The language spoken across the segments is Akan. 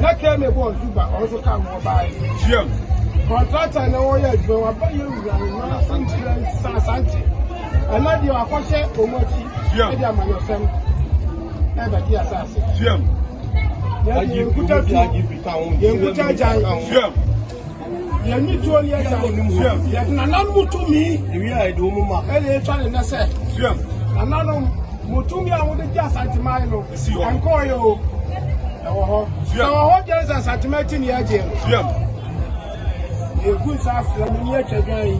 Na Kemi bɔɔ Zuba, ɔno nso kaa ho baeɛ. Hyiam. Kɔntrata na wɔyɛ adwuma wɔ aba yɛ wura nwa nkyerɛ nsa asante. Ɛna deɛ wakɔhyɛ wɔn akyi ɛde amanyɔsɛm ɛbɛgye asase. Hyiam. Yɛn deɛ yɛn kuta tu, yɛn kuta gyan. Hyiam. Yɛne tuo yɛ gya wonim ho. Yɛde nananom mu tumi. Ewie a yɛde wɔn ma. Ɛna etwa ne nɛ sɛ. Nananom mo tumi a mode gye Asanteman no. Esi hɔ. Ɛnkɔɔyɛ o. Ɛwɔ hɔ. Sɛ wɔ hɔ gyɛn sɛ Asanteman akyi ne yɛagye no. Yɛgu nsa afrɛ mo ne yɛatwa dwan yi.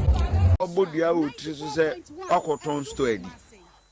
Wabɔ dua wɔ tiri so sɛ wakɔtɔn store adi.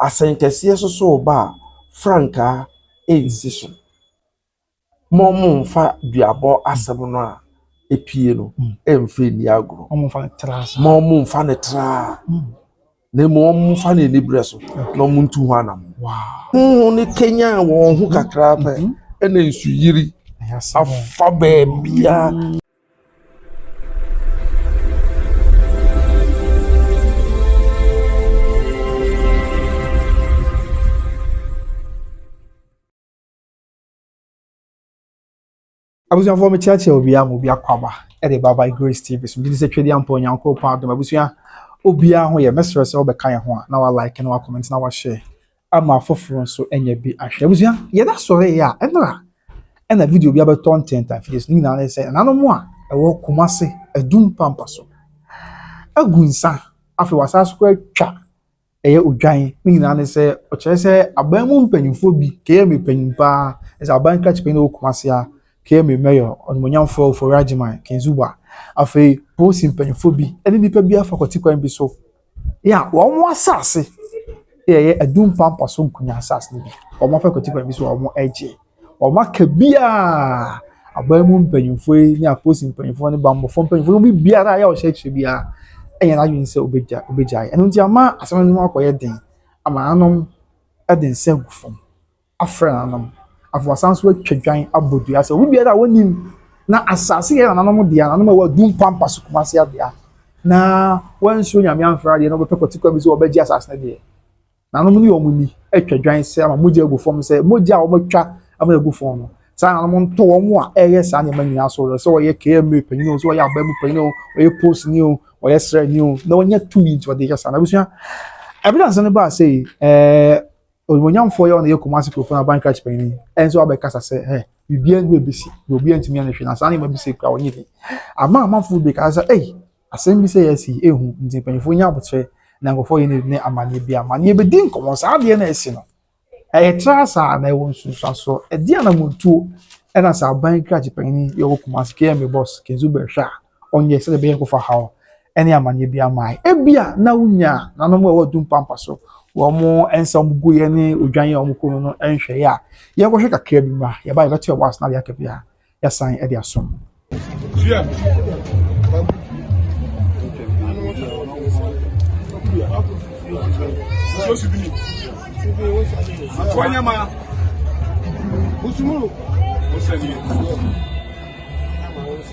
Asɛnkɛseɛ sosoo ba a, frankaa ɛnsi so. Mo mo nfa duabɔ asɛm no a ɛpue no ɛmfa nni agorɔ. Mo mo nfa no traa na mmom wɔn mo nfa no aniberɛ so na wɔn ntu ho anam. Honhom no kanyan wɔn ho kakra pɛ ɛna nsuyiri afa baabiara. abusuafoɔ mekyeakyea obiara ma obi akɔ aba ɛde ba by grace tv so gyidi sɛ twɛdi ampa onyankopɔn adom abusua obiara ho yɛ mɛsrɛ sɛ wobɛka yɛn ho a na wa like na wa comment na wa share ama afoforo nso anya bi ahwɛ. Abusua, yɛda sɔre yɛ a, ɛnora ɛna video bi abɛtɔ ntɛnta afidie so. Ne nyinaa ne sɛ, nananom a ɛwɔ Kumase, Adum pampa so agu nsa, afei wɔasan so kɔ atwa ɛyɛ odwan. Ne nyinaa ne sɛ, ɔkyerɛ sɛ aban mu mpanyinfoɔ bi, KMA panyin paa, ɛsɛ aban krakye panyin wɔ Kumase a, KMA mayor, ɔnumonyamfoɔ Ofori Agyeman, King Zuba, afei polisi mpanyinfoɔ bi, ɛne nipa bi afa kɔte kwan bi so. a wɔn asase yɛ adumpampa so nkonnwa asase no bi. Wɔakɔ akɔtu kwan bi so a wɔregye. Wɔaka biara. Aban mu mpanimfoɔ yi ne apolisifoɔ mpanimfoɔ ne bammɔfoɔ mpanimfoɔ no mu biara a ɔhyɛ kyɛ biara nyɛ n'adwene sɛ ɔbɛgya ɔbɛgyae. Ɛno nti ama asɛm no akɔyɛ den ama anom de nsa agu fam. afrɛ nananom. Afei wɔasan nso atwa dwan abɔ dua sɛ obi biara a ɔnim na asase yɛ nananom dea, nananom a ɛwɔ Adum Pampas so Kumasi Abea, na wansuro Nyame amfrɛ adeɛ na wɔbɛpɛ kwati kwan bi sɛ wɔbɛgye asase no deɛ, nananom ne wɔn ni atwa dwan sɛ ama mogya agu fam sɛ mogya a wɔatwa ama agu fam no, saa nananom nto wɔn a ɛreyɛ saa nneɛma nyinaa so werɛ, sɛ ɔyɛ KMA panyin o, sɛ ɔyɛ aban mu panyin o, ɔyɛ polisini o, ɔyɛ sraani o, na wɔnya tumi nti wɔde yɛ saa. Na abusua, ɛberɛ a nsɛm no baa sɛ ɛɛ Onimuonyamfoɔ yi a ɔno yɛ Kumasi Kuropɔn Aban Krachi Panyin nso abɛkasa sɛ ɛ biribiara ngu ebesi na obiara ntumi anhwɛ na saa nneɛma bi sɛ kura wɔnyɛ bi. Ama amanfo bebree kaa sɛ ei asɛm bi sɛ yɛasi yi ehu nti mpanyinfoɔ nya abokyerɛ na nkurɔfoɔ yɛ ne amanneɛ bi ama ne yɛbɛdi nkɔmmɔ saa adeɛ na ɛsi no. Ɛyɛ tra saa na ɛwɔ nsunsuasoɔ ɛdeɛ anamontuo ɛna sɛ aban Krachi Panyin yɛ wɔ Kumasi KMA Boss Kenzo Bɛhwɛ a ɔnyɛ sɛdeɛ ɛbɛyɛ kɔfa haw ne amanneɛ bi ama yɛn. Ebia na wonya nanom a ɛwɔ adum pampa so wɔn nsa wɔn guiɛ ne odwan a wɔkɔ mu no nhwɛeɛ a yɛnkɔhwɛ kakra bi ma yɛba yɛbɛto ɛwɔ ase na adeɛ aka bi a yɛasan de asom. Wanyama. Usumuru. Usumuru.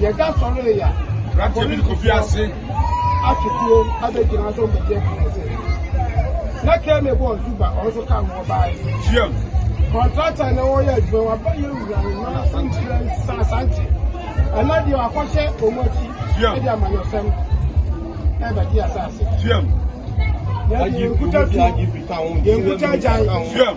Yɛda sɔre yɛ a. Aberanteɛ bi de kofi ase. Atutuo abɛgyina so ɔbɛdi ɛkɛnɛ sɛ. Na kɛmɛ bɔ ɔzuba ɔnso ka ho ɔbaa yi. Tiam. Kɔntrata na wɔyɛ adwuma waba yɛ wura no na sɛ nkyerɛ nsa asante. Ɛna deɛ wakɔhyɛ wɔn akyi. Tiam. Ɛde amanyɔsɛm ɛbɛte asase. Tiam. Yɛde nkuta tu. Yɛnkuta agyan. Tiam.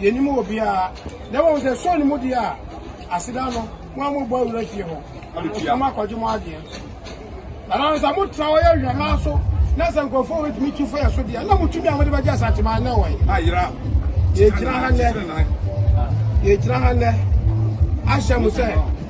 Yennim obiara. Na mmom sɛ ɛsɔ ne mu deɛ a, aseda no, mo a mobɔ awura fie hɔ, na moakɔgye mo adeɛ. Ɛnam sɛ motra hɔ yɛ hwɛmaa so, na sɛ nkurɔfoɔ a wɔbɛtumi tu fa yɛn so deɛ, na mo tumi a mode bɛgye asateman no wɔ he? Yɛgyina ha nnɛ, yɛgyina ha nnɛ ahyɛ mo sɛ.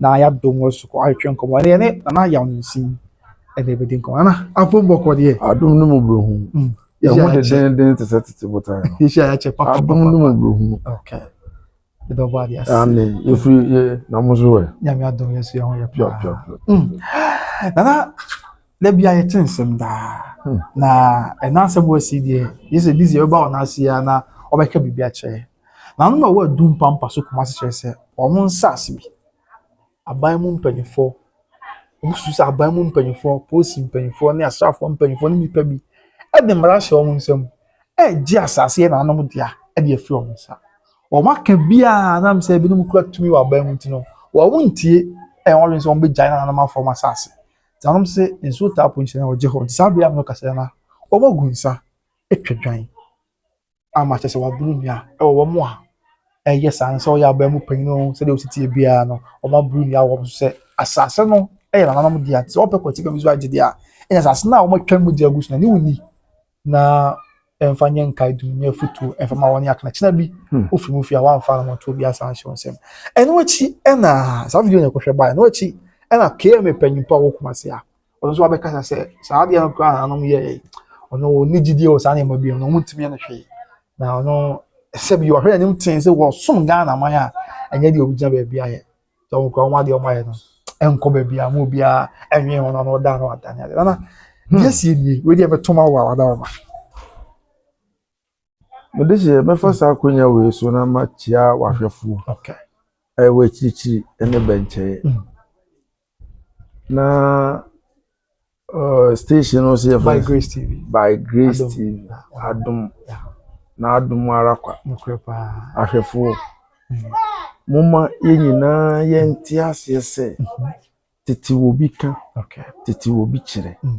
na yɛadom wɔ so ahwehwɛ nkɔmmɔ. Ɛnna yɛne Nana Yaw Nensin ɛna ɛbɛdi nkɔmmɔ. Nana, afom bɔkɔ deɛ. Adom ne mu berɛ hunu. Mm. Yɛn ho de denden te sɛ tete botan no. Yɛhyia yɛakyɛ papa. Adom ne mu berɛ hunu. Okay. Ɛdɔ bɔ adeɛ ase. Ɛne yɛfiri yɛ na mo so wɛ. Nyame adom yɛ so yɛn ho yɛ paa. Pia pia pia. Mm. Nana, da bia yɛte nsɛm daa. Hmm. Na ɛna asɛm wɔ asi deɛ, yɛ sɛ bi sɛ yɛbɛba wɔn ase a na ɔbɛka biribi akyerɛ. Na ano na ɔwɔ adu mpampa so kumase kyerɛ sɛ wɔn nsase bi. Aban mu mpanyinfoɔ, wɔn susu sɛ aban mu mpanyinfoɔ, polisi mpanyinfoɔ ne asraafoɔ mpanyinfoɔ ne nnipa bi ɛde mmara ahyɛ wɔn nsam ɛregye asase yɛ nananom dea ɛde afiri wɔn nsa. Wɔn aka biara nam sɛ ebinom kura tumi wɔ aban mu nti no, wɔn ntie ɛyɛ wɔn adwene sɛ wɔn bɛgyae nananom afɔ wɔn asase. Nti wɔn sɛ nsuo taa po nkyɛn wɔgye hɔ. Nti saa bere a wɔkasa na wɔn agu nsa atwa dwan. ama kyerɛ sɛ waboro nua wɔ wɔn a ɛyɛ saa no sɛ ɔyɛ aban mu panyin o sɛdeɛ ɔsi teɛ biara no wɔaboro nua wɔ wɔn so sɛ asase no yɛ nananom dea sɛ wɔpɛ kɔte baabi so agye deɛ a ɛyɛ asase no a wɔatwa mu gye agu so na ne wonni na ɛmfa nyɛ nkae dum nyɛ afutuo ɛmfa ma wɔn akana kyena bi hmm. ofiri mu fi a wɔamfa no wɔn to obi asan ahyɛ wɔn nsam ɛno akyi ɛna saa video na ɛkɔhwɛ baa ɛno akyi ɛna kma panyinpo a wɔkuma se a ɔno nso abɛkasa sɛ saa adeɛ no koraa anom yɛɛe ɔno ɔni gyidie wɔ saa nneɛma bi no ɔmo ntumi ne hwee na ɔno sɛ bi ɔhwɛ anim tee sɛ wɔsom ghana man a ɛnyɛ deɛ ɔgyina baabi ayɛ sɛ ɔmo kora ɔmo adeɛ ɔmo ayɛ no ɛnkɔ baabi a mo biara ɛnwe ho na ɔno da no ada ne adeɛ nana hmm. deɛ sie nie wei deɛ mɛtoma wo a wada ɔma Me de hyɛ mɛfa saa akonnwa wei so na makyia w'ahwɛfoɔ ɛwɔ akyirikyiri ɛne bɛnkyɛɛ mm. na uh, station no sɛ by grace tv by grace adom. tv adom yeah. na adom ara kwa ahwɛfoɔ mm. momma yɛn nyinaa yɛnte aseɛ sɛ mm-hmm. tete wɔ bi ka tete wɔ bi kyerɛ mm.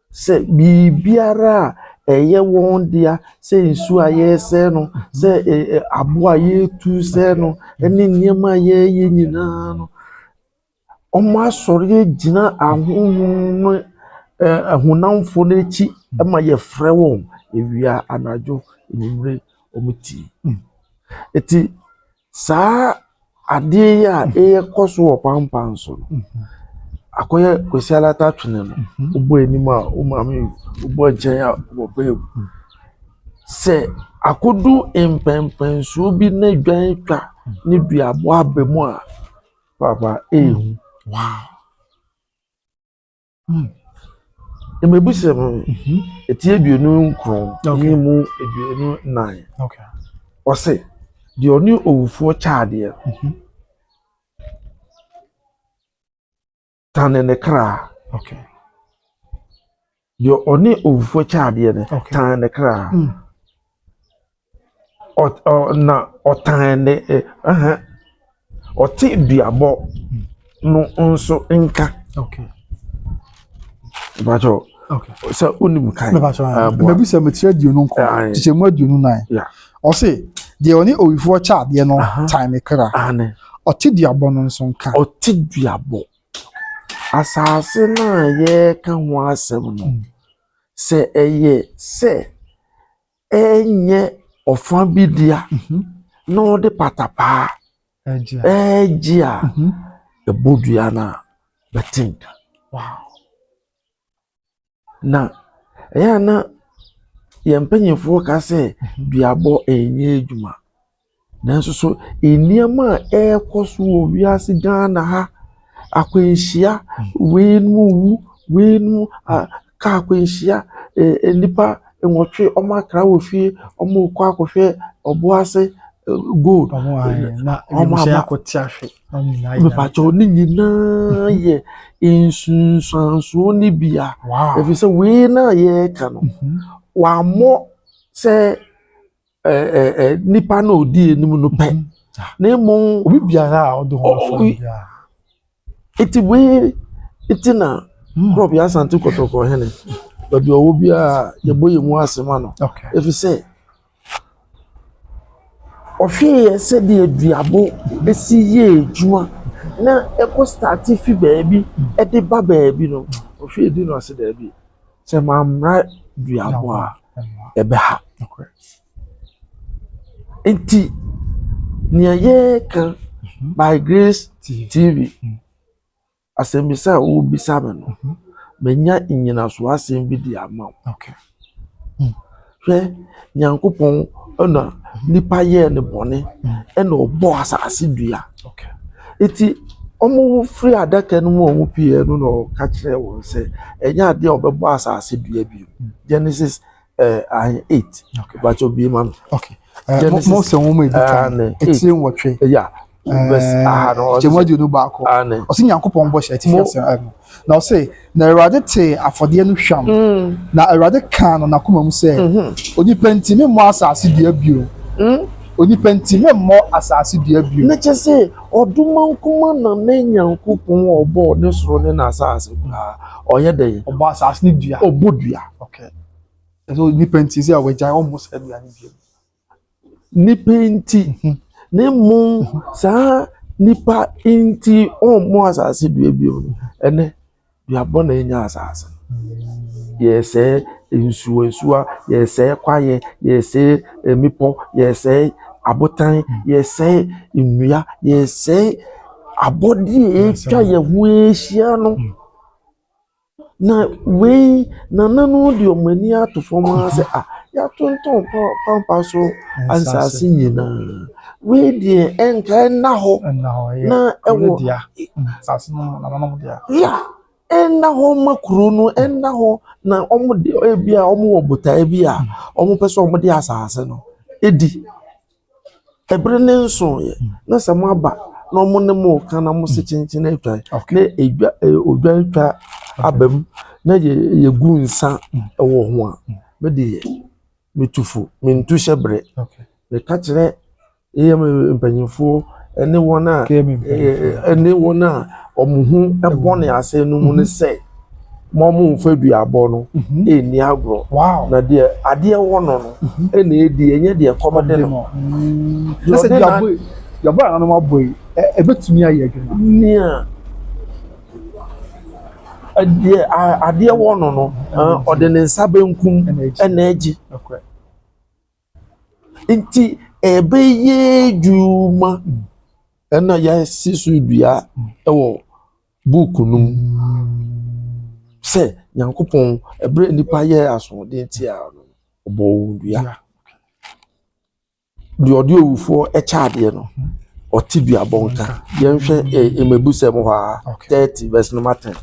Sɛ biribiara a ɛyɛ wɔn dea, sɛ nsuo a yɛresɛe no, sɛ ɛ ɛ aboɔ a yɛretu resɛe no, ne nneɛma a yɛreyɛ nyinaa no, wɔasɔre agyina ahonhom no ɛ ahonamfoɔ no akyi ma yɛfrɛ wɔn awia, anadwo, anwummerɛ, wɔtie. Enti. Saa adeɛ yi a ɛrekɔ so wɔ pampan so no, akɔyɛ Kwesi Alata twene no, wobɔ anim a wo maame wu, wobɔ nkyɛn a wo papa wu. Sɛ akɔdu mpɛnpɛnsoɔ bi na dwan atwa ne duaboa aba mu a, papa ɛyɛ hu. Mmebusɛm no, mhm. ɛti aduonu nkron ne mu aduonu nnan. Ɔse, deɛ ɔne owufoɔ kyaadeɛ mhm. tane ne kra. Deɛ ɔne owufoɔ kyaadeɛ no tane ne kra. Mm. na ɔtan ne ɛhɛ ɔte duabɔ no nso nka. Okay. Ìbàjọ́ sɛ onim kan. Mabisa mekyerɛ aduonu nkɔ kyekyɛ mu aduonu nan. Ɔse deɛ ɔne owifoɔ kyɛ adeɛ no tan ne kra. Ɔte duabɔ no nso nka. Ɔte duabɔ. Asase no a yɛreka ho asɛm no, sɛ ɛyɛ sɛ. renyɛ ɔfã bi dea na ɔde patapaa regye a, ɛbɔ dua no a, bɛte nka. Na ɛyɛ a na yɛn mpanyimfoɔ ka sɛ duabɔ ɛnyɛ adwuma. Nanso so nneɛma a ɛrekɔ so wɔ wiase Ghana ha, akwanhyia, weinom wu, weinom a kaa akwanhyia, eh, nnipa nwɔtwe wɔn akra wɔ fie, wɔrekɔ akɔhwɛ ɔboase gold. Wɔn ayɛ na wɔn ayɛ akɔte ahwe. Mepatwa ne nyinaa yɛ nsunsuansoɔ no bi a. Ɛfiri sɛ wei na yɛreka no, wɔammɔ sɛ nipa na odi anim no pɛ na emu obi biara a ɔde ho so biara eti wei eti na prɔf yɛ asante kɔtɔkɔ hɛnɛ baabi ɔwɔ biara yɛbɔ yɛn mu ase ma no efi sɛ ɔhwɛ yɛ sɛdeɛ duabo esi yɛ adwuma na ɛkɔ start fi baabi ɛde ba baabi no ɔhwɛ edi no ase daabi. Sɛ mammra duabɔ a, ɛbɛha. Nti, nea yɛreka mhm. by grace tv mhm. asɛmbisa a wobisa me no mhm. manya nnyinaso asɛm bi de ama wo hmm. Hwɛ, Nyankopɔn na nipa yɛɛ no bɔne, ɛna ɔbɔ asase dua. Eti wɔfiri adaka no mu a wɔpueɛ no na ɔka kyerɛɛ wɔn sɛ, ɛnyɛ adeɛ a ɔbɛbɔ asase dua bio. Genesis ɛɛ eh, ahen eight. Bàtɛ obi ma no. Genesis ɛɛ ne eight. Ya. kyɛmu aduonu baako ɔsi nyankopɔn bɔ hyɛ ɛti fi asɛm ɛno na ɔsi na awurade te afɔdeɛ no hwam mm. na awurade kan no n'akoma mu sɛ mhm. onipa nti mi mmɔ asaase dua bio mm. onipa nti mi mmɔ asaase dua bio. ne kyɛ sɛ ɔdoma nkoma na ne nyankopɔn ɔbɔ ne soro ne n'asaase koraa ɔyɛ dɛ. ɔbɔ asaase ne dua. ɔbɔ dua. okay ɛsɛ onipa nti sɛ ɔwɔ gya ɔmo sɛ dua ne bio. Nnipa nti, na mmom saa nnipa nti ɔmmo asase dua bio no, ɛnɛ dua bɔne anya asase no. Yɛsɛɛ nsuwa nsuwa, yɛsɛɛ kwaeɛ, yɛsɛɛ mmepɔ, yɛsɛɛ abotan, yɛsɛɛ nnua, yɛsɛɛ abɔdeɛ a atwa yɛn ho ahyia no. Na wei nananom de wɔn ani ato fam ara sɛ ah yɛatontɔn pampa so nsase nyinaa wei deɛ ɛnka ɛnna hɔ na ɛwɔ nsase no nananom deɛ ya ɛnna hɔ ma kuro no ɛnna hɔ na wɔde ebi a wɔwɔ botaeɛ bi a wɔpɛ sɛ wɔde asase no di. Bere no nsoeɛ, na sɛ moaba na wɔne mo reka na mo se kyenkyen atwa na edwa odwa atwa aba mu na yɛ yɛgu nsa wɔ ho a, me deɛ metu fo, mentu hyɛ berɛ. Meka kyerɛ ɛyɛ mpanyinfoɔ ne wɔn a ɛne wɔn a wɔn ho bɔ ne asɛn no mu no sɛ. ma wɔmfa duabɔ no mhm. ɛnni agorɔ na deɛ adeɛ wɔ no no mhm. ɛna ɛdi ɛnyɛ deɛ kɔm de no duabɔ a nanom abɔ yi ɛbɛtumi ayɛ adwuma nea adeɛ adeɛ wɔ no no ɔde ne nsa benkum ɛna agye Nti ɛbɛyɛ adwuma na yɛasi so dua wɔ book no mu sɛ Nyankopɔn ɛberɛ a nnipa yɛɛ asoɔden tia no no, ɔbɔɔ wɔn dua. Deɛ ɔde owufoɔ kyɛ adeɛ no, ɔte dua bɔ nka. Yɛnhwɛ mmɛbusɛm hɔ ara, thirty verse number ten.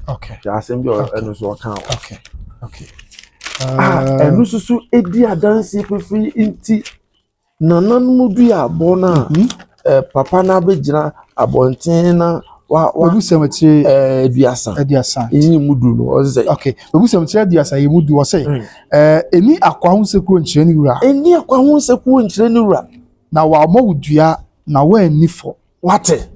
Hwɛ asɛm bi a ɛno nso ɔkaa hɔ. a ɛno nso so di adanseɛ fafiri nti, nananom dua aboɔ no a mhm. papa no abɛgyina abɔnten na wabusɛm akyire aduasa aduasa ɛyɛ mu du no ɔsɛ sɛ okay wabusɛm akyire aduasa ɛyɛ mu du ɔsɛ hmm. ɛni akwa ho nsekuro nkyerɛ ne wura ɛni akwa ho nsekuro nkyerɛ ne wura na wɔamɔ wo dua na wɔanni fɔ Wate?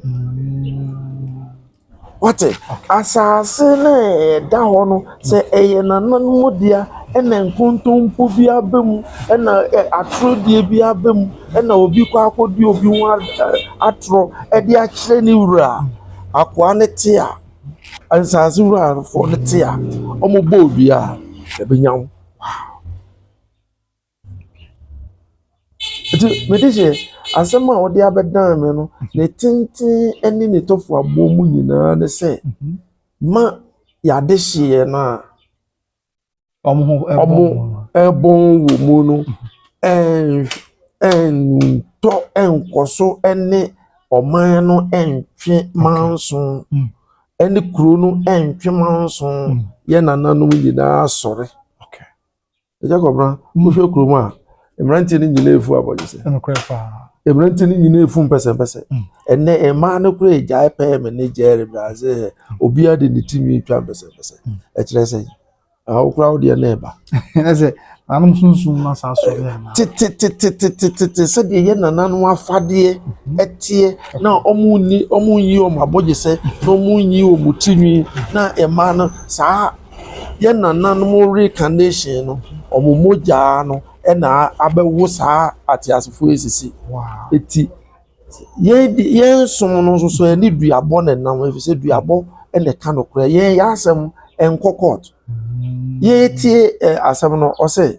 Wate? Asase no a ɛda hɔ no, sɛ ɛyɛ nananom dea na nkontompo bi aba mu na atorɔdeɛ bi aba mu na obi kɔ akɔdi obi ho atorɔ de akyerɛ ne wura a, akoa no te a, asase wurafoɔ no te a, wɔbɔ obiara, ɛbɛnya wo. Wow! Enti mede hyɛ asɛm a wode abɛdan me no, ne tenten ne ne tɔfoaboɔ mu nyinaa ne sɛ, ma yɛade hyeɛ no a wɔbɔn wɔ mu no ntɔ nkɔ so ne ɔman no ntwe manso ne kuro no ntwe manso, yɛn nananom nyinaa asɔre. ɛgya kɔbra wohwɛ kurom a mmeranteɛ no nyinaa efu abɔdwesɛ mmeranteɛ no nyinaa efu mpɛsɛmpɛsɛ mm. ɛnɛ mmaa no kora egyae pɛɛ me ne gyɛre brazil hɛ obiara de ne ti nwi twa mpɛsɛmpɛsɛ mm. ɛkyerɛ sɛ awokora wo deɛ na ɛba. ɛsɛ nanom sunsun na saa so yɛ na. tetetetetetete sɛdeɛ yɛ nananom afadeɛ mm-hmm. ɛteɛ na wɔn ni wɔn nyi wɔn abɔdwesɛ na wɔn nyi wɔn ti nwi na mmaa no saa. Yɛn nananom reincarnation no, wɔn mogya no na abɛwo saa ateasefoɔ yi sisi. Eti yɛn de yɛn som no nso so ɛne duabɔ na ɛnam efisɛ duabɔ na ɛka no korɛ. Yɛn yɛn asɛm ɛnkɔ court. Yɛtie ɛ asɛm no ɔsɛ.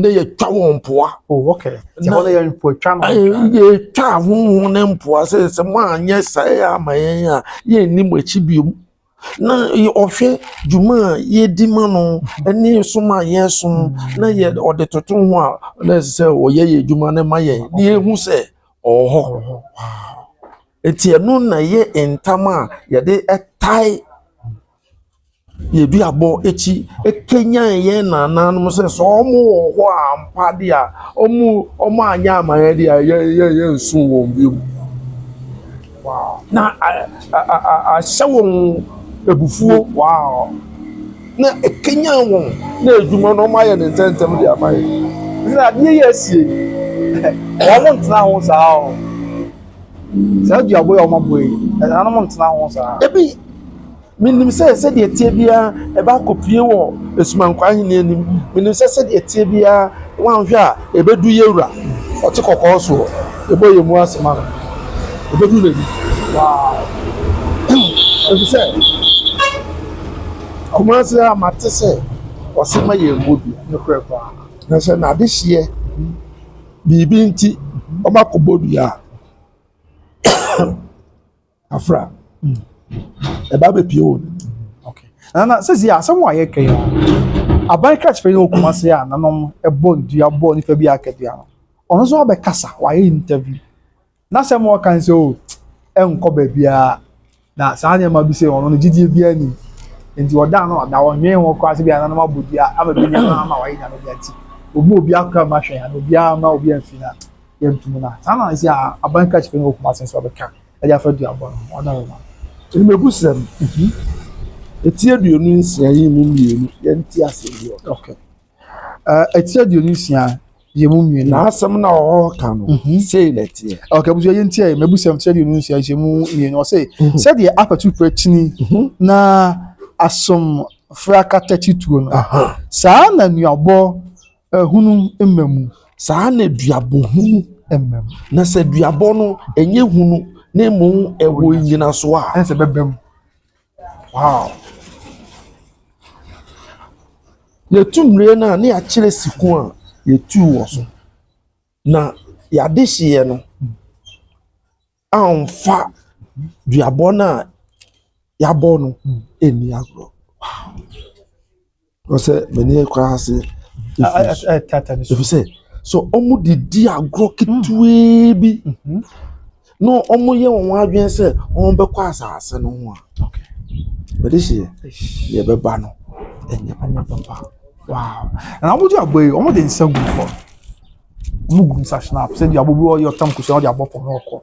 ne yɛtwa wɔn mpoa yɛtwa ahoho ne mpoa sɛ sɛ moanyɛ sae ama yɛn a yɛnni mo akyi biom na ɔhwɛ dwuma a yɛdi ma no ne som a yɛsom na yɛ ɔde toto ho a na ɛsɛ sɛ ɔyɛ yɛ adwuma no ma yɛn na yɛhu sɛ ɔwɔ hɔ ɛti ɛno na yɛ ntam a yɛde ɛtae Yɛn aduabɔ akyi ɛkanyan yɛn nanaanom sɛ sɛ wɔn wɔ hɔ a ampa deɛ a wɔn anyɛ ama yɛn deɛ a yɛn yɛn yɛnsu wɔn bio. Na a a a a ahyɛ wɔn abufuo wow na ɛkanyan wɔn na adwuma no wɔayɛ no ntɛmntɛm de ama yɛn. Ɛfiri sɛ adeɛ yi a asie yi wɔntena ho saa o. Saa duaboɔ yi a wɔabɔ yi, ɛnanom ntena ho saa. Ebi, menim sɛ sɛdeɛ ɛteɛ biara ɛbɛ akɔpue wɔ Asumankwa ahenni anim. Menim sɛ sɛdeɛ ɛteɛ biara woanhwɛ a ɛbɛdu Yawura, ɔte kɔkɔɔ soɔ. Yɛbɔ yɛn mu ase ma no. Ɛbɛdu n'anim. Wow. Ɛfiri sɛ, Kumasi a mate sɛ ɔse ma yɛmmɔ dua, nokorɛ paa. Na sɛ n'adehyeɛ. Biribi nti wɔakɔbɔ dua a, afra. Ɛba bɛpue wɔ ne mu. Okay. Na na sisi asɛm a yɛka yi aban kakyere yi wɔ Kumasi a nanom ɛbɔ dua bɔ nipa bi akadua no. Ɔno nso abɛkasa, wayɛ interview. N'asɛm a ɔka no sɛ, oh, ɛnkɔ baabiara. Na saa nneɛma bi sɛ ɔno no gyidie biara nim. Nti ɔda no ɔda ɔnwee ho koraa sɛ bi ananom abɔ dua ama bi nneɛma ama wayɛ nyame dea nti obi obi akora ma hwɛn ana obiara ma obi amfi na yɛntum na saa na ɛsɛ aban kra kyerɛ no okuma sɛ nso ɔbɛka ɛde afa dua bɔ no ɔda yɛ ma mmegu sɛm mhm. Eti aduonu nsia yi mu mmienu yɛnte aseɛ bi wɔ okay. Ɛti aduonu nsia yɛn mu mmienu. N'asɛm na ɔreka no sei na ɛteɛ. Ɔka abusua yɛn ti a yɛn abusua ti aduonu nsia yɛn mu mmienu ɔse sɛdeɛ apɛtu pɛkyini na asom frakata kyituo no saa na nuabɔ hunu mma mu. Saa na duabɔ hunu mma mu. Na sɛ duabɔ no ɛnyɛ hunu na mmom ɛwɔ nnyinasoɔ a. Ɛnsɛ bɛbɛ mu. Wow. Yɛtu nnua no a na yɛakyerɛ siku a yɛtuu wɔ so. Na yɛade hyeeɛ no amfa duabɔ no a yɛabɔ no anni agorɔ. Wow. Ɔsɛ mani akura ase efi sɛ so wɔn de di agorɔ ketewaa bi mhm. na wɔn yɛ wɔn adwene sɛ wɔn bɛkɔ asaase no ho a bɛde hyɛ yɛ bɛba no ɛnyɛ papa wow na wɔn de agbo yi wɔn de nsa gu fam wɔn gu nsa hyɛn apɛ sɛ deɛ abobi ɔyɛ ɔtam kusi ɔde abɔ fam ɔkɔ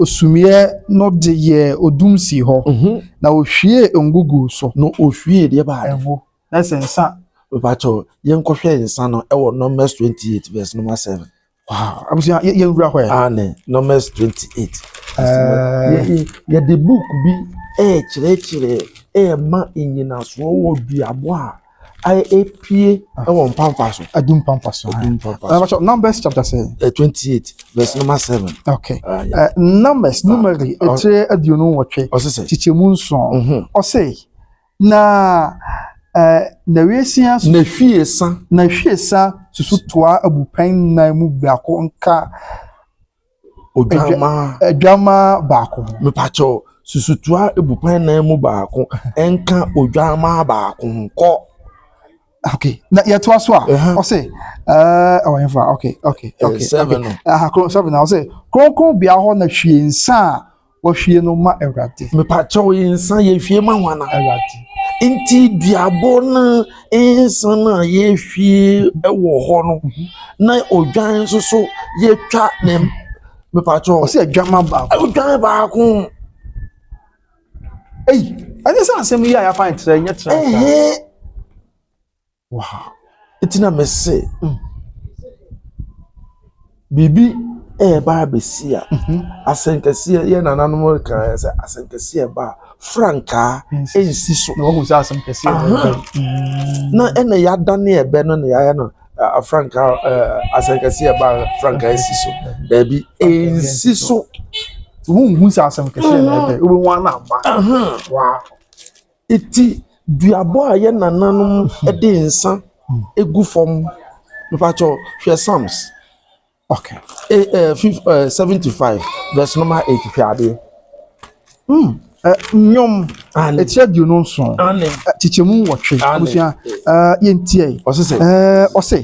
Osumiiɛ no de yɛɛ odum sii hɔ, na ɔhwiee ngo guu so. Na ɔhwiee deɛ baade. Ngo, na sɛ nsa. Mepakyɛw, yɛnkɔhwɛ nsa no wɔ Numbers twenty eight verse number seven. Wow, abusua, yɛ yɛnwura hɔ ɛ. Aane, Numbers twenty eight. Ɛɛ. Yɛde book bi ɛɛkyerɛkyerɛ ɛɛma nnyinasoɔ wɔ duabɔ a. apue wɔ mpampa so. Adu mpampa so. Adu mpampa so. Ɛbɛkyɛ Numbers chapter sɛn? Eh, twenty eight verse number seven. Okay. Uh, yeah. uh, numbers numeri ɛkyerɛ aduonu nwɔtwe. Ɔsɛ sɛ. Kyekyɛ mu nson. Ɔsɛ na eh, na wiesia. Na hwiesa. Na hwiesa susu toa abupɛn nan mu biako nka Odwammaa. Odwammaa baako. Mepakyɛ o, susutoa abupɛn nan mu baako nka odwammaa baako ho. Kɔ. Okay. Na yɛtoa so a, ɔse, ɛɛ, ɔwɔ hefa, okay, okay, okay. Seven no. Aha, kron, seven na ɔse, kronkron bea hɔ na hwie nsa a Wɔhwie no ma Awurade. Mepaakyɛw yi nsa yɛhwie ma hwana? Awurade. Nti duabɔ no nsa no a yɛhwie wɔ hɔ no mhm. na odwan nso so yɛtwa ne mepaakyɛw. Ɔsɛ adwama baako. Odwan baako. Ei, ɛne sɛ asɛm yi a yɛafa nkyerɛ nyɛ kyerɛ. wɔ ha. Enti na mese mm. Biribi ɛreba abɛsi a mhm. asɛnkɛseɛ yɛ nananom reka yɛ sɛ asɛnkɛseɛ ba a frankaa ɛnsi so. Na wɔhu sɛ asɛnkɛseɛ ɛreba. Mm. Na ɛna yɛadane ɛbɛ no na yɛayɛ no frankaa asɛnkɛseɛ ɛba frankaa ɛnsi so. Daabi ɛnsi so. Wɔnhu sɛ asɛnkɛseɛ na ɛbɛ wobɛhu ana aba. Waa. Eti duabɔ a yɛn nananom de nsa gu fam, mepakyɛ wo, hwɛ Psalms okay, eh, eh, fif, eh, 75, verse number 8, hwɛ adeɛ. Mm. Eh, nnwom ɛkyerɛ aduonu nson kyekyɛmu nwɔtwe abusua yɛntiɛ ɔse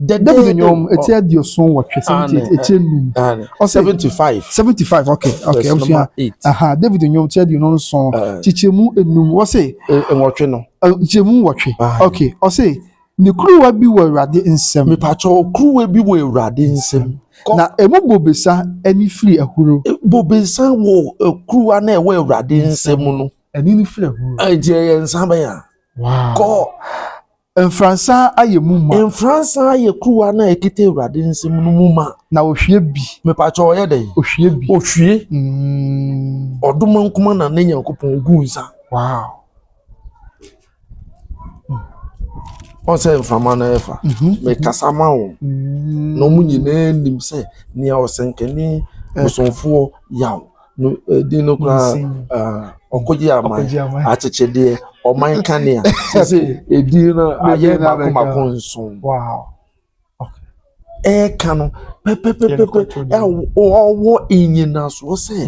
David nnwom eti aduoson wɔtwe seventy eight eti enum ɔsɛ seventy five seventy five okay okay abusua aha David nnwom eti aduonu nson kyekyɛmu enum wɔsɛ nwɔtwe no kyekyɛmu nwɔtwe okay ɔsɛ ne kuruwa bi wɔ awurade nsam mipatsɔ kuruwa bi wɔ awurade nsam na emu bobesa ɛni firi ahuro e, bobesa wɔ e, kuruwa na ɛwɔ awurade nsam no ɛni ni firi ahuro ɛnti ɛyɛ nsa bɛyà wow kɔ. Mfransa ayɛ mu ma. Mfransa ayɛ kuruwa no a ɛkita Awurade nsam no mu ma. Na ɔhwie bi. Mepakyɛ ɔyɛ dɛn? Ɔhwie bi. Ɔhwie. Mm. Ɔdoma nkuma na ne Nyankopɔn gu nsa. Wow. Mm. Wɔn sɛ mframa na ɛfa. Mhm. Mekasa ma wɔn. Mm. Na wɔn nyinaa nim sɛ nea ɔsɛnkani eh. bosomfoɔ yaw. No ɛdin no koraa ah, ɔkɔgye aman Ɔkɔgye aman. akyekyedeɛ ɔman kanea sɛ sɛ ɛdin no ayɛ Ɛdin no mako abɛka. mako nson wow okay ɛɛka no pɛpɛpɛpɛpɛ Yɛrekɔto dɛm. ɛw- ɔwɔ nnyinasoɔ sɛ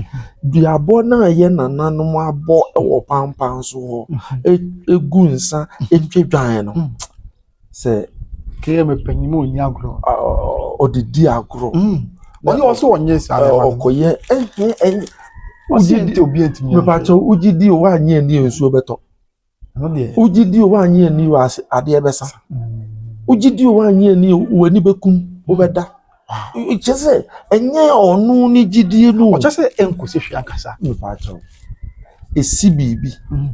duabɔ no a yɛ nananom abɔ wɔ pampan so hɔ ɛgu nsa ɛtwa dwan no sɛ kee me panyin mu onyi agorɔ ɔde di agorɔ ɔyɛ ɔsɛ ɔnyɛ saa na ɔkɔyɛ ɛhɛn ɛyɛ ɔsi nti obi ntumi yɛ mepatɔ wogye di o wanyɛ ni nsuo bɛtɔ wogye di o wanyɛ ni o adeɛ bɛsa wogye di o wanyɛ ni o w'ani bɛkum wobɛda Kyɛ sɛ ɛnyɛ ɔno ne gyidie no. Ɔkyɛ sɛ ɛnkɔsi hwee ankasa. Mepaakyɛw. Ɛsi biribi. Mm.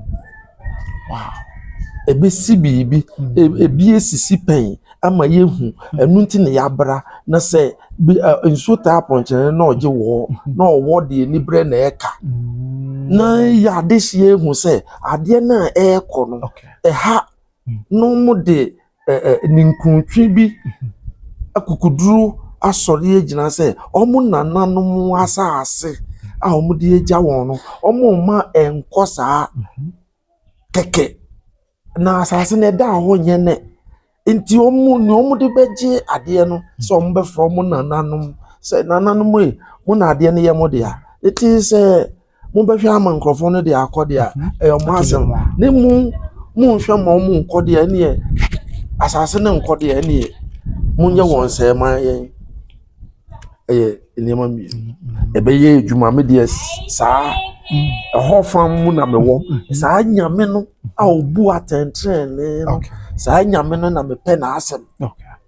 Wow. Ɛbɛsi biribi. Mm. Ebi esisi pɛn ama yɛhu. Mm. Ɛno nti na yɛabra na sɛ nsuo taa pɔnkyerɛ na ɔgye wɔ mm-hmm. na ɔwɔ deɛ anibrɛ na ɛka. Mm. Na yɛ adehyeɛ ehu sɛ adeɛ no a ɛrekɔ no ɛha na wɔde ɛ ɛ ninkuntwe bi akokoduru asɔre agyina sɛ wɔn nananom asase a wɔde agya wɔn no, wɔmma ɛnkɔ saa kɛkɛ. Na asase no, ɛdaa hɔ nyɛ nnɛ. Enti wɔn nea wɔde bɛgye adeɛ no sɛ wɔbɛfrɛ wɔn nananom sɛ, Nananom ei, mo na adeɛ no yɛ mo dea. It is a. Mobɛhwɛ ama nkurɔfoɔ no de akɔ deɛ a, ɛyɛ wɔn asɛm. Ne mo monhwɛ ma wɔn nkɔ deɛ ɛneɛ, asase no nkɔ deɛ ɛneɛ, monyɛ wɔn sɛ ma yɛn. Ɛyɛ nneɛma mmienu. Ɛbɛyɛ adwuma me deɛ saa ɛhɔ fam mu na mewɔ. Saa nyame no a ɔbu atɛntrenee no, saa nyame no na mepɛ n'asɛm.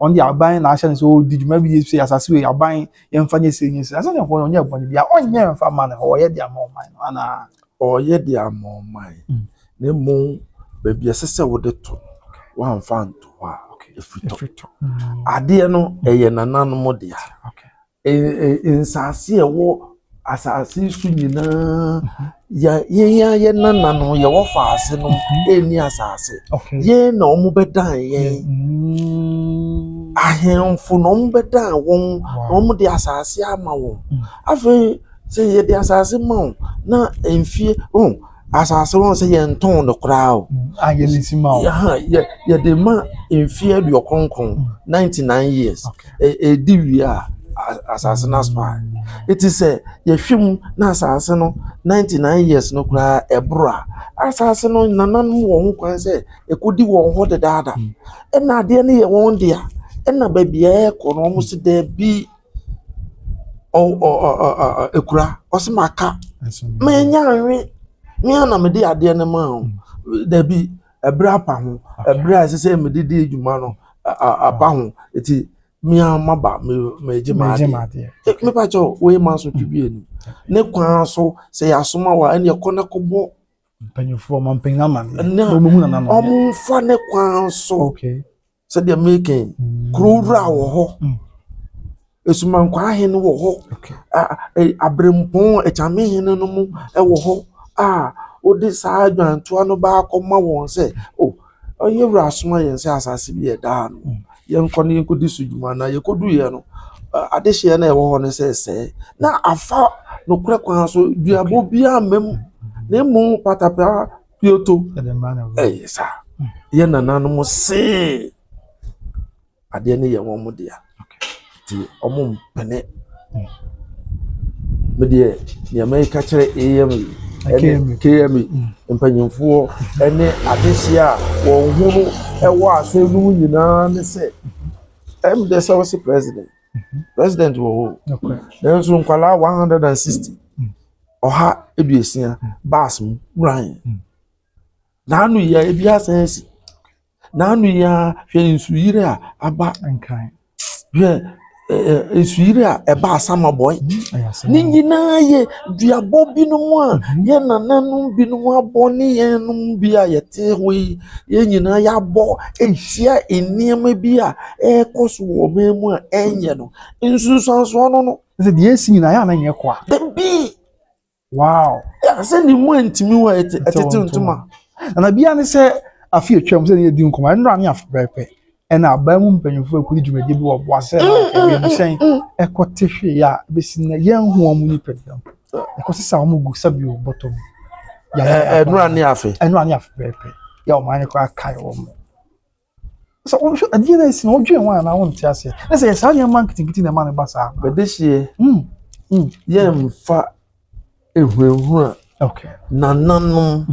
Ɔno deɛ aban na ahyɛ no sɛ ɔredi dwuma bi sɛ asase wei aban yɛmfa nyɛ sei nyɛ sei. Asɛ deɛ ɔno ɔnyɛ bɔne biara ɔnyɛ mfa ma no hɔ ɔyɛ de ama ɔman no anaa? Ɔyɛ de ama ɔman mm. na mmom baabi ɛsɛ sɛ wode to no wamfa nto hɔ a ɛfiri tɔ. Mm. Adeɛ no ɛyɛ nananom dea. Okay. Nsase a ɛwɔ asase so nyinaa, yɛn ara yɛn nananom a wɔwɔ asase no nni asase. Yɛn na wɔbɛdan yɛn. Ahemfo na wɔbɛdan wɔn na wɔde asase ama wɔn. Afei sɛ yɛde asase ma wo na mfeɛ . asase wɔn sɛ yɛn ntɔn no koraa o a yɛn nsi ma o yɛ yɛde ma mfeɛ aduɔ kronkron mm. ninety nine years ɛdi e, e wie a asase no aso a ɛti sɛ yɛhwɛ mu na asase no ninety nine years no koraa ɛboro a asase no nanan mu wɔn ho kwan sɛ ɛkɔdi wɔn hɔ dedaada mm. ɛna adeɛ no yɛ wɔn dea ɛna baabi a ɛkɔ no wɔn si daabi. akura, ɔse maka, manya anwe, me ara na mede adeɛ no maa wo, dabi, ɛberɛ apa ho, ɛberɛ a ɛsɛ sɛ mede di dwuma no aba ho, nti me ara maba meregye m'adeɛ, mepakyɛ wo, wei ma asotwe bi anim, ne kwan so sɛ yɛasoma wo a, ɛnneɛ kɔ na kɔbɔ mpanyinfoɔ ma mpanyin ama ne wɔn mu nana no wɔn mfa ne kwan so. Okay. sɛdeɛ meka yi kuro wura wɔ hɔ asumankwaa hene wɔ hɔ abirempɔn akyame hene no mo wɔ hɔ a wode saa adwantoa no ba akɔma wɔn sɛ o ɔyɛ wura asoma yɛn sɛ asase bi ɛda ha no yɛnkɔ no yɛnkɔdi so dwuma na yɛkɔduiɛ no adehyeɛ no ɛwɔ hɔ no sɛ sɛe na afa nokorɛ kwan so duabɔ biara mmam na mmom patapaa Kyoto ɛyɛ saa yɛ nananom see adeɛ no yɛ wɔn dea nti wɔn mpene me deɛ nea mɛka kyerɛ am ɛne km mpanyinfoɔ ɛne adehyeɛ a wɔn ho no ɛwɔ asɔre no mu nyinaa ne sɛ ɛm dɛ sɛ wɔsi president. president wɔ hɔ nanso nkwadaa one hundred and sixty hmm. ɔha aduosia hmm. baas mu wuran hmm. n'anu yia ebi asan asi n'anu yia hwɛ nsuyiri a aba hwɛ nsuyiri a ɛba asama bɔe ne nyinaa yɛ duabɔ binom a yɛn nananom binom abɔ ne yɛn nom bi a yɛte hɔ yi. yɛn nyinaa yɛabɔ ahyia nneɛma bi a ɛrekɔ so wɔ ɔman mu a ɛnyɛ no nsunsuansoɔ no no sɛ deɛ ɛsi nyinaa yɛ a na nyɛ kwa dabi wow sɛ ne mu antumi wɔ ɛtete ntoma na bia ne sɛ afi atwam sɛ ne yɛdi nkɔmɔ ɛnora ne afebɛɛpɛ Ɛnna aban mu mpanyimfo a wokodi dwumadi bi wɔ Boase no a wiemhyɛn kɔ te hwee a ebesi nnɛ yɛnhu wɔn nipaduam. Yɛkɔsesaw wɔn gu sa bio bɔtɔ mu. Ɛnora ne afe. Ɛnora ne afe pɛɛpɛ. Yɛ wɔn ayɛ koraa kae wɔn. Sɛ wohwɛ adeɛ no asi na wodwen ho anaa wonte aseɛ. Na sɛ yɛ saa nneɛma nketenkete na ɛma no ba saa. Bɛde hyeɛ. Yɛmfa Ehurahura nananom.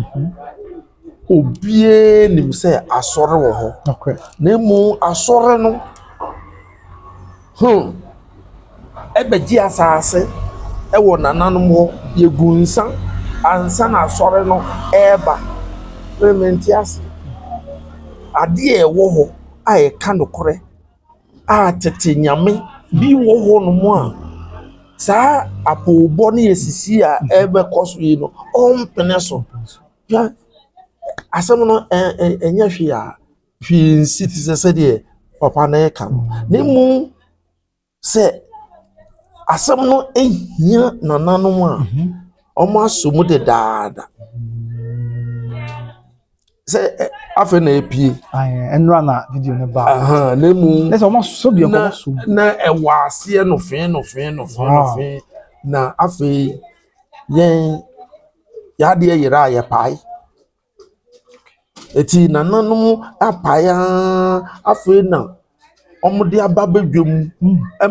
Obiara nim sɛ asɔre wɔ hɔ. Na mmom asɔre no hmm bɛgye asase wɔ nananom hɔ. Yɛgu nsa ansa na asɔre no reba. Mente aseɛ. Adeɛ a ɛwɔ hɔ a ɛka nokorɛ. a tete nyame bi wɔ hɔ nom a saa apoobɔ ne asisi a ɛrebɛkɔ so yi no ɔmpene so. Hwɛ asɛm no ɛ ɛ ɛnyɛ hwee a hwee nsi te sɛ sɛdeɛ papa no reka no na mmom sɛ asɛm no hia nananom a wɔasɔ mu dedaada. sɛ afei na epie. ɛnura na video no ba. na emu na sɛ wɔn asosɔ bi ɛkɔn so. na ɛwɔ aseɛ nɔfɛn nɔfɛn nɔfɛn nɔfɛn na afei yɛn yadeɛ yɛrɛ a yɛ pae eti nananom apae aa afei na. wɔde aba badwam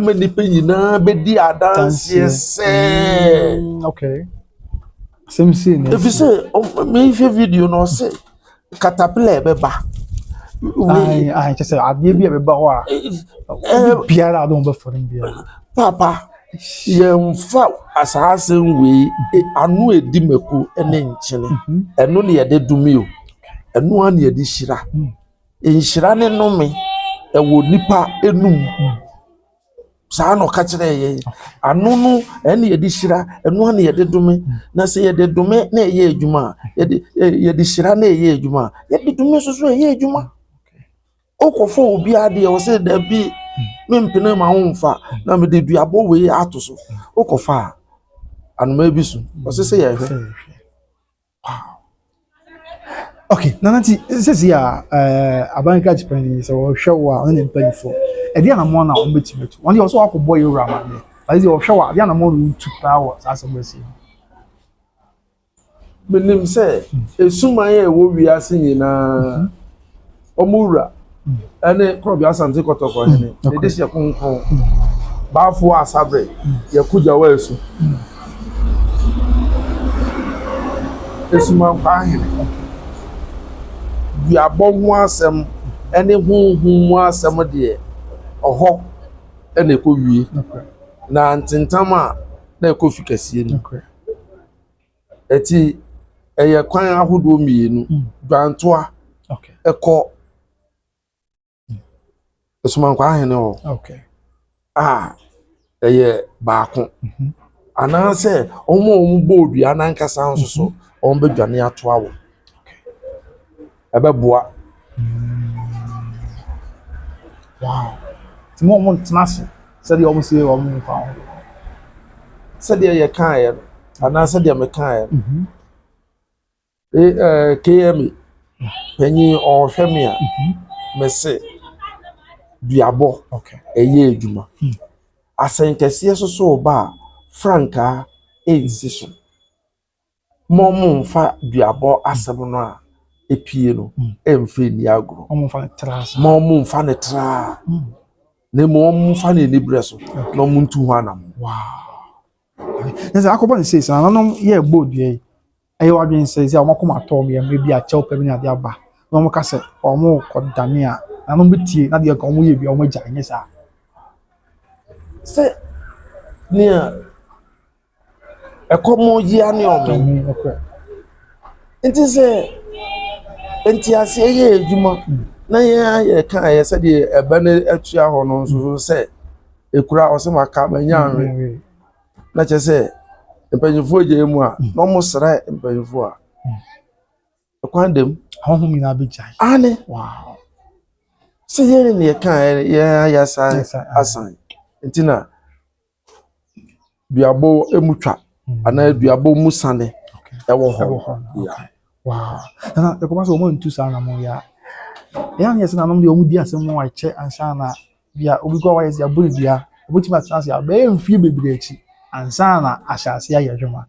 ma nnipa nyinaa bɛdi adanseɛ sɛ ɛfiri sɛ mehwɛ video no ɔse caterpillar ɛbɛba kyɛ sɛ adeɛ bi a ɛbɛba hɔ a biara a wode bɛfɔ no biara papa yɛmfa saa asɛm wei ano ɛdi mako ne nkyene ɛno ne yɛde dome o ɛno a ne yɛde hyira Nhyira ne nnome wɔ nnipa anum ho. Saa na ɔka kyerɛɛ yɛn. Ano no, ɛna yɛde hyira, ɛno na yɛde dome. Na sɛ yɛde dome na ɛyɛ adwuma a, yɛde yɛde hyira na ɛyɛ adwuma a, yɛde dome nso so ɛyɛ adwuma. Wokɔfa obi adeɛ, ɔsɛ dabi mempene ma wo mfa na mede duabɔ wei ato so. Wokɔfa a, anoma bi so. Ɔsɛ sɛ yɛhwɛ. Okay, Nana ti sisi a ɛɛ aban krakye panyin sɛ ɔhwɛ wo a ɔne ne mpanyinfoɔ ɛdi anamɔ na wɔn bɛtumi atu wɔn deɛ ɔsɛ wakɔ bɔ yɛ wura ma ne ayi sɛ ɔhwɛ wo a ɛdi anamɔ na ɔtu paa wɔ saa asɛm ɛsi. Menim sɛ esuman a ɛwɔ wiase nyinaa. Wɔn wura ne Korɔbea Asante Kɔtɔkɔ hene, mm, ne dehyeɛ kronkron, mm. Baafoɔ Asaberɛ, mm. Yɛkogya wɔ asu. Esumankwa hene, duabɔ ho asɛm ne honhom mu asɛm deɛ ɔhɔ na ɛkɔwie, na ntentam a na ɛkɔ fi kɛseɛ mu. Ɛti ɛyɛ kwan ahodoɔ mmienu dwantoa ɛkɔ Somankwa ahene hɔ a ɛyɛ baako mhm. anaasɛ wɔn a wɔn bɔ odua n'ankasa nso so mhm. wɔn bɛ dwane atoa wɔ. ɛbɛboa. Wow! Nti mo a wɔntena ase sɛdeɛ wɔse wɔmfa ho. Sɛdeɛ yɛkaeɛ no, anaa sɛdeɛ mekaeɛ no, mhm. eh, KMA panyin ɔhwɛ me a, mhm. mese duabɔ ɛyɛ adwuma. Hmm. Asɛnkɛseɛ soso ba a frankaa ɛnsi so. Mo mo nfa duabɔ asɛm no a epie no mm. ɛnfɛ ni agorɔ mo mo nfa ne tra mm. na mu wɔn nfa ne ani brɛ so na wɔn ntu ho anam. ɛsɛ akɔbɔ ne sei sɛ nananom yɛ ɛbɔ dua yi ɛyɛ wadwene sɛ sɛ wɔn akoma atɔ wɔn yɛ mmerɛ bi akyɛw pɛ bi ne adeɛ aba na wɔn ka sɛ wɔn kɔ dane a nananom bi tie na deɛ ka wɔn yɛ bi a wɔn agya nyɛ saa. sɛ nea Ɛkɔm yi ano yɛ ɔmene nti sɛ nteaseɛ yɛ adwuma na yɛn ara yɛka a ɛyɛ sɛdeɛ ɛbɛ no atua hɔ no nso so sɛ ɛkura a ɔsɛ maka manya anwe na kyerɛ sɛ mpanimfoɔ gyae mu a na wɔsrɛ mpanimfoɔ a ɛkwan da mu ahɔhom nyinaa bɛgyae ane sɛ yɛn ne yɛka a yɛn ara yɛasan asan nti na duabɔ mu twa anaa duabɔ mu sane wɔ hɔ. Ɛwɔ hɔ yeah. Wow. Ɛna ɛkɔba sɛ wɔn antu saa anamɔ yi a. Ɛyɛ anyɛ sɛ nanom deɛ wɔn di asɛm mu a ɛkyɛ ansa na bia obi kɔ wɔyɛ sɛ abɔ dua. Obetumi atena ase abɛyɛ mfie bebree akyi ansa na ahyɛ ase ayɛ adwuma.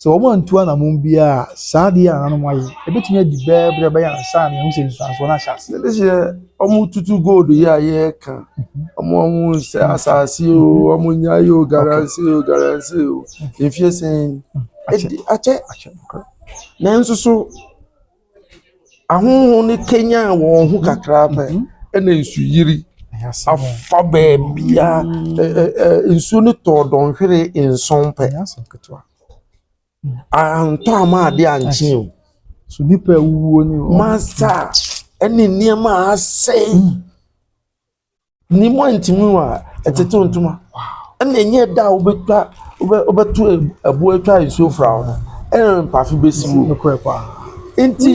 Sɛ wɔantu anammɔn biara a, saa ade yi a nananom ayɛ yi, ebetumi adi bɛɛ bere a ɛbɛyɛ ansa na yɛahu sɛ nsusuansoɔ no ahyɛ ase. Ɛde hyɛ wɔn tutu gold yi a yɛreka, wɔn a wɔn sɛ asase o, wɔn nya yi o, garansi o, garansi o, mfie sɛn, ɛde akyɛ. Nanso so. Ahonhom no kanyan wɔn ho kakra pɛ na nsu yiri fa baabiara. Ɛ ɛ ɛ nsuo no tɔɔ dɔnhwere nson pɛ. Antɔ amma adeɛ ankye o. Masa ne nneɛma a asɛe. Ni mu a ntumi wa ɛtetew ntoma ɛna ɛnyɛ da a wobɛtwa wobɛ wobɛto ɛboɔ atwa nsuo fra ho no ɛna mpafe bɛsi mu. Nokorɛ paa. Nti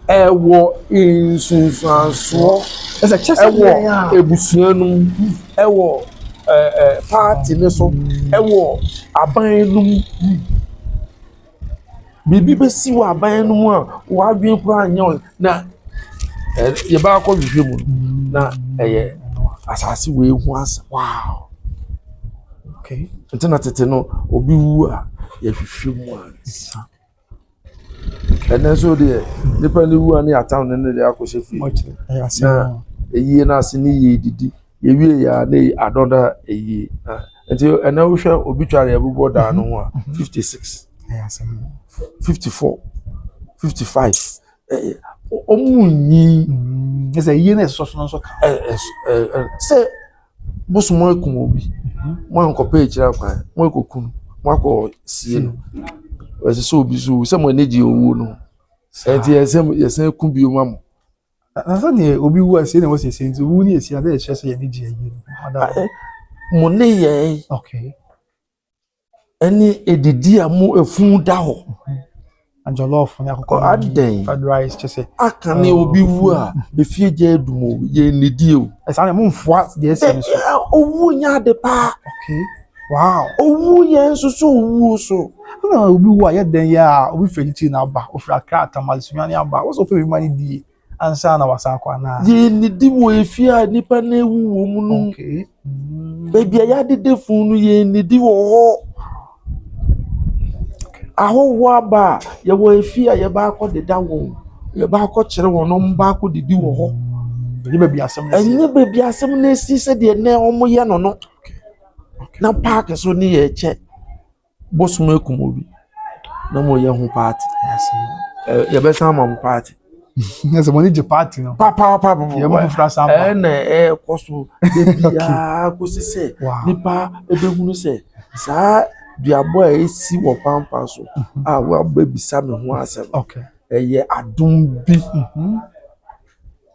ɛwɔ nsunsuansoɔ ɛwɔ abusua no mu ɛwɔ ɛɛ ɛɛ paati no so ɛwɔ aban no mu. Biribi bɛsi wɔ aban no mu a w'adwene koraa nyɛ ho na yɛba akɔ hwehwɛ mu na ɛyɛ asase wei ho asɛm wow okay nti na tete no obi wu a yɛhwehwɛ mu a nsa ɛnɛ nso deɛ nipa no wu a ne yɛataw ne ne deɛ akɔhyɛ fie na ɛyie no ase ne yie didi. Yɛwie yɛ a na eyi adɔ na eyi nti ɛnna wohwɛ obi tware a ɛbobɔ daa no ho a mhm. fifty six fifty four fifty five ɔmu nyi. ɛsɛ mhm. yie na ɛsɔ so nso ka. sɛ bosom ekum obi mhm. mo ankɔpɛ ekyir akwan mo ekɔ kun mo akɔ sie no ɛsɛ sɛ obi so sɛ mo ani gye owuo no ɛnti yɛsɛ yɛsɛ kun bi mu amu. Ansa na obi wu a sei na ɛwɔ sɛ ɛsɛ nti owu ne ɛsi adɛ ɛkyerɛ sɛ yɛn ani gye ayie no. Mo ne yɛn ɛne ɛdidi a mo ɛfun da hɔ. Ajɔlɔfo ne akokɔ adɛn fried rice kyɛ sɛ. Aka ne obi wu a efie gya adum o yɛn nidie o. Ɛsaa na mo mfoa deɛ ɛsɛ no so. Owu nyɛ ade paa. Okay. Wow owu yɛn nso so owu so ɛna obi wu a yɛ dɛn yɛ a obi fɛ ti na aba ofiri akra tamale sunya ne aba wosɔ fɛ bi ma ne die ansa na wasa akɔ anaa. yɛn ne di wɔ efie a nipa na ewu wɔ mu no okay. mm. baabi a yɛadede funu no yɛn ne di wɔ hɔ ahɔhoɔ aba a yɛwɔ efie a yɛba akɔ deda wɔn yɛba akɔ kyerɛ wɔn na wɔn ba akɔ didi wɔ hɔ. Mm. ɛnyɛ baabi asɛm na esi sɛdeɛ nɛ wɔn yɛ no no. Na park so ne yɛ kyɛ bosoom akum obi na mo yɛ ho party yɛ bɛ san ma mo party. Nyɛ sɛ mo ne gye party no. Papapapaapa. Yɛ mo foforo asan ba. Ɛna ɛkɔ so ebiara kosi sɛ nipa ebehunu sɛ saa duabɔ a esi wɔ pampa so a wabɛbisa me ho asɛm. Ɛyɛ adum bi.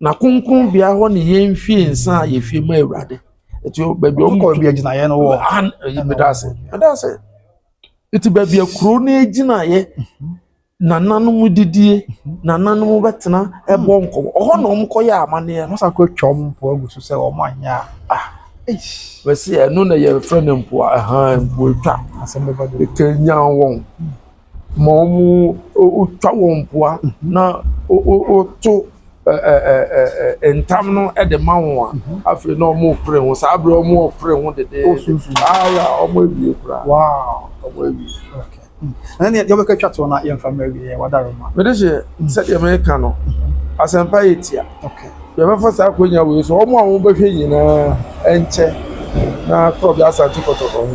Na kronkronbea hɔ ne yɛn fie nsa a yɛfie ma awurade ɛti baabi ɔmo kɔ baabi agyinaeɛ no wɔ han ɛyi meda ase meda ase ɛti baabi akuro no agyinaeɛ nananom didie nananom bɛtena ɛbɔ nkɔmɔ ɔhɔ na ɔmo kɔyɛ amaneɛ no sa kɔ atwa ɔmo mpo agu so sɛ ɔmo anyɛ a bɛsi ɛno na yɛfrɛ no mpo a ɛhan mpo atwa ɛkanyan wɔn ma wɔtwa wɔn mpoa na wɔto ntam no de ma wɔn a, afei na wɔrepere ho. Saa bere wɔrepere ho dedeede. Aya, wɔawie koraa. Wow. Wɔawie. Okay. Ɛnna nea yɛbɛka twa to na yɛmfa mmerɛ wie yɛ wadaroma. Mede hyɛ sɛdeɛ meka no, asɛmpa yɛ tia. Yɛbɛfa saa akwanya wei so, wɔn a wɔbɛhwɛ nyinaa nkyɛ na Korɔbea Asante Kɔtɔkɔ ho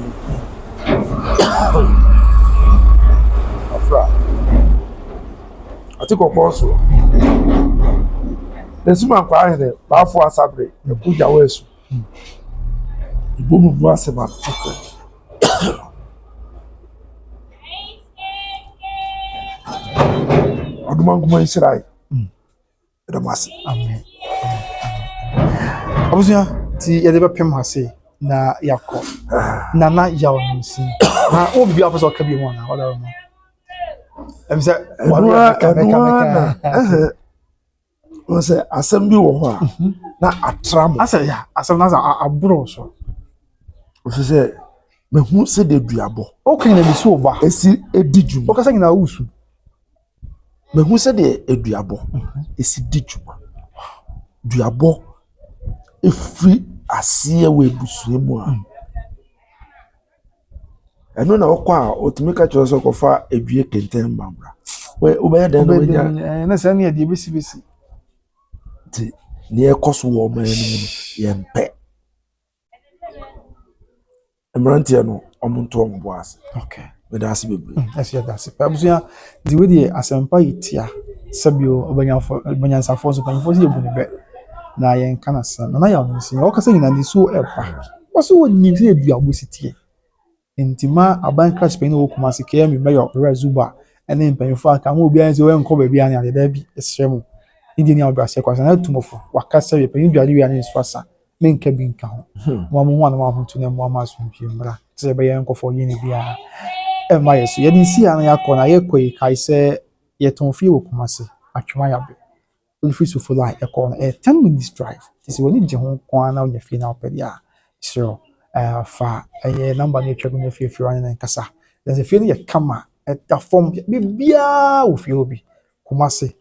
afra ate kɔkɔɔ soɔ. Asuman Kwahene Baafoɔ Asabre Aku Gyawo Asu Ibomu Bua Seman Akwah. Ɔdomankoma Nhyira Ayi. Meda mo ase. Amen. Abusua ti yɛde bɛpem ha se na yakɔ. Nana yaw no nsi. Na wo bi afɔ sɛ ɔka bi mu na ɔda wo no. Ɛm sɛ wɔde ka me ka me ka. Wɔn sɛ asɛm bi wɔ hɔ a mhm. na atra mo. Asɛ ya asɛm na sɛ aboro so. Ofi sɛ mehu sɛ de duabɔ. Okay na bi so ba. Esi edi dwuma. Okasa nyina wusu. Mahu sɛdeɛ aduabɔ si di dwuma. Duabɔ firi aseɛ wɔ abusua mu a, ɛno na wokɔ a, wɔtumi ka kyerɛ wo sɛ kɔfa dua kɛntɛn ba bra. Wɛ wobɛyɛ dɛn na woanya ne sɛ ne yɛde ɛbɛsibɛsi. Nti deɛ ɛkɔ so wɔ ɔman no mu no, yɛmpɛ. mmeranteɛ no ɔmo nto ɔmo bo ase. Okay. Meda ase bebree. Mm, ɛsɛ yɛda ase. Abusua di wo deɛ asɛmpa yi tia sɛbio ɔbɛnyafo ɔbɛnyansafoɔ so panyinfoɔ sɛ yɛbu ne bɛ na yɛnka no asɛm na na yɛ ɔmo nsi ɔkasa nyina ne suo ɛba wɔsɛ wɔnim sɛ yɛdua ɔmo si tie Enti ma aban kras panyin a ɔwɔ Kumasi, KMU Mayor Owura Zuba ne mpanyimfo a aka mo obiara nsi wɔnkɔ baabi a ne ade da bi srɛ mo. Ne deɛ ni a ɔdɔ aseɛ kɔ asa na atu mo fo. Waka sɛ yɛ panyin dware wie a ne nsu asa. Me nka bi nka ho. Mo a mo ho a na mo ahotu na mmoa ma asomdwie mmra te sɛ ɛbɛyɛ nkɔfɔ yɛ ne biara ɛmma yɛ so. Yɛde nsi a na yɛakɔ na yɛkɔ yi kae sɛ yɛtɔn fie wɔ Kumasi, Atwemaya bɛ. Wofiri sufre no a ɛkɔ hɔ no ɛyɛ ten minutes drive nti sɛ w'ani gye ho nko ara na wonya fie no a wopɛ deɛ a, mesrɛ wo fa ɛyɛ number no a atwa mu no afiri afie hɔ ne no nkasa. Na sɛ fie no yɛ kama, ɛda fam, biribiara wɔ fie hɔ bi. Kumase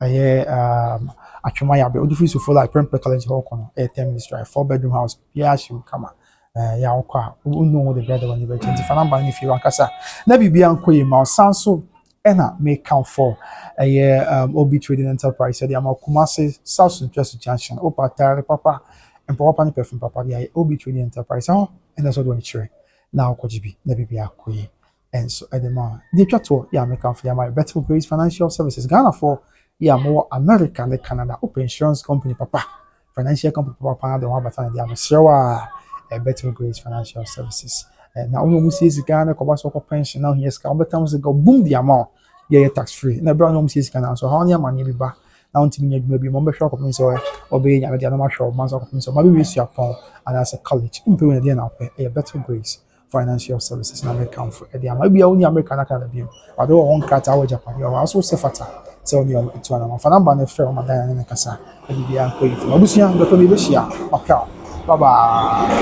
ɛyɛ um, Atwema Yabe, wode firi sufre like Prempeh College hɔ kɔ no ɛyɛ ten minutes drive, four bedroom house, biribiara hyɛ mu kama. Eh, yɛ a wokɔ a wonnu ho de brɛ de w'ani bɛgye nti fa number no ne fie hɔ ankasa na biribiara nkɔ yie ma wo. San so Ɛna meka fɔ ɛyɛ um, Obi Trading Enterprise ɛde ama Kumasi South Central Junction wopa atare papa mpa papa ne perfume papa de ayɛ Obi Trading Enterprise ɛhɔ ɛna ɛsɛ ɔde wɔn kyerɛ na ɔkɔgye bi na biribi akɔ yie ɛnso ɛde ma deɛ atwa toɔ yɛ a meka fo de ama yɛ Betfo Grace Financial Services Ghanafoɔ yɛ a mowɔ America ne Canada wopɛ insurance company papa financial company papaapa na de wɔn abata na de ama mesrɛ wo a eh, Betway Grace Financial Services eh, na wɔn a wɔsie sika na kɔba so kɔ pension na wɔhia sika wɔbɛka ho sika boom de ama wo yɛyɛ tax free na ɛberɛ a wɔn a wɔsie sika no nso ha wɔn amanneɛ bi ba na wɔntumi nyɛ adwuma bi ma wɔbɛhwɛ akɔpem sɛ wɔbɛyɛ nyame deɛ na wɔahwɛ wɔn ma nso akɔpem sɛ wɔn abɛwie suapɔn anaasɛ college wompɛ wei na deɛ na wopɛ ɛyɛ Betway Grace Financial services na mekamfo de ama. Ebia wonni Amerika na Canada bio. Ade wɔ hɔ nkrataa wɔ Japan wɔ hɔ. Aso sɛ fata sɛ wo ne wɔn tu anamɔ. Fa number no frɛ wɔn ma Diana ne no kasa na biribiara nkɔ yie. Fama abusua dɔpɛ no yɛbɛhyia. Mapɛ wo. Bye bye.